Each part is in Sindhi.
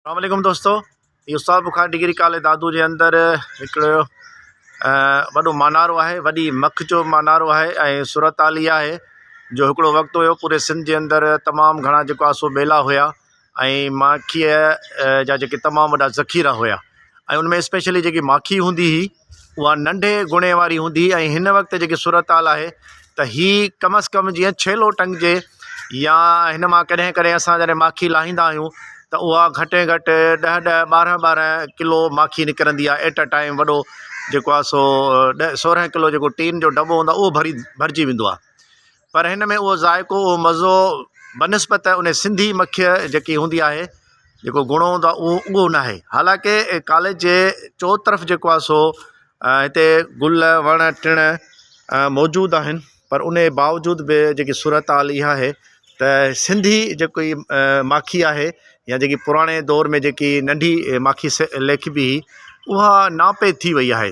اسلام عليڪم دوستو اهو سؤ بخار ڊگري ڪالي دادو جي اندر هڪڙو وڏو مانارو آهي وڏي مک جو مانارو آهي ۽ صورت حال اها آهي جو هڪڙو وقت هيو پوري سنڌ جي اندر تمام گهڻا جيڪو آهي سو ٻيلا هيا ۽ ماکيء جا جيڪي تمام وڏا ذخيرا هيا ۽ ان ۾ اسپيشلي جيڪي ماکي هوندي هئي اها ننڍي گڻي واري هوندي ۽ هن وقت جيڪي صورتحال آهي ته هي ڪم از ڪم جيئن ڇيلو ٽنگجي يا هن مان ڪڏهن ڪڏهن اسان جڏهن ماکي لاهيندا آهيون ته اها گهٽ ۾ گهٽ ڏهه ڏهه ٻارهن ٻارهن ڪلو ماکي نڪرندي آهي ايٽ ا ٽائيم وڏو جيڪو آهي سو ڏهه سورهن ڪلو جيڪو ٽين جو دٻو هوندو آهي اهو ڀري ڀرجي ويندو آهي پر هن ۾ اهو ذائقو اهو مزو بنسبت ان سنڌي مکي جيڪي هوندي آهي جيڪو گهڻو هوندو آهي اهو اهو نه آهي حالانڪه ڪاليج جي چو طرف جيڪو آهي سو هتي گل وڻ ٽڻ موجود آهن پر ان باوجود به جيڪي صورت حال اها آهي ته سنڌي جيڪو هي ماکي آهي يا جيڪي پراڻي دور ۾ جيڪي ننڍي ماکي ليکبي اها ناپيد ٿي وئي آهي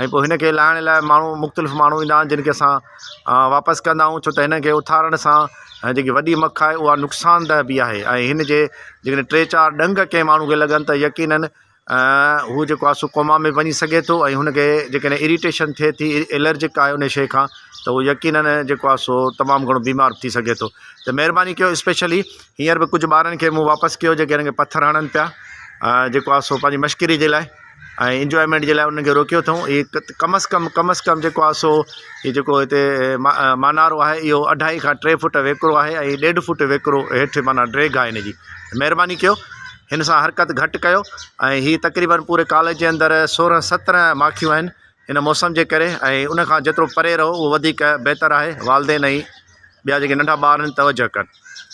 ۽ پوء هن کي لاهڻ لاء ماڻهو مختلف ماڻهو ايندا آهن جن کي اسان واپس ڪندا آهيون ڇو ته هن کي اٿارڻ سان ۽ جيڪي وڏي مک آهي اها نقصان ده به آهي ۽ هن جي جيڪڏهن ٽي چار ڏنگ ڪنهن ماڻهو کي لڳن ته يقينن هو جيڪو آهي سو ڪوما ۾ وڃي سگهي ٿو ۽ هن کي جيڪڏهن اريٽيشن ٿئي ٿي الرجڪ آهي ان شيء کان ته هو يقينن جيڪو آهي سو تمام گهڻو بيمار به ٿي سگهي ٿو ته مهرباني ڪيو اسپيشلي هينئر به ڪجهه ٻارن کي مون واپس ڪيو جيڪي هن کي پٿر هڻن پيا جيڪو آهي سو پنهنجي مشڪري جي لاء ۽ انجوائمينٽ جي لاء انهن کي روڪيو اٿئون هي ڪم از ڪم ڪم از ڪم جيڪو آهي سو هي جيڪو هتي مانارو آهي اهو اڍائي کان ٽي فوٽ ويڪرو آهي ۽ ڏيڍ فوٽ ويڪرو هيٺ معنيٰ ڊريگ آهي هن جي مهرباني ڪيو هن سان حرڪت گهٽ ڪيو ۽ هي تقريبن پوري ڪاليج جي اندر سورهن سترهن ماکيون آهن هن موسم جي ڪري ۽ ان کان جيترو پري رهو اهو وڌيڪ بهتر آهي والدين ۽ ٻيا جيڪي ننڍا ٻار آهن توجه ڪن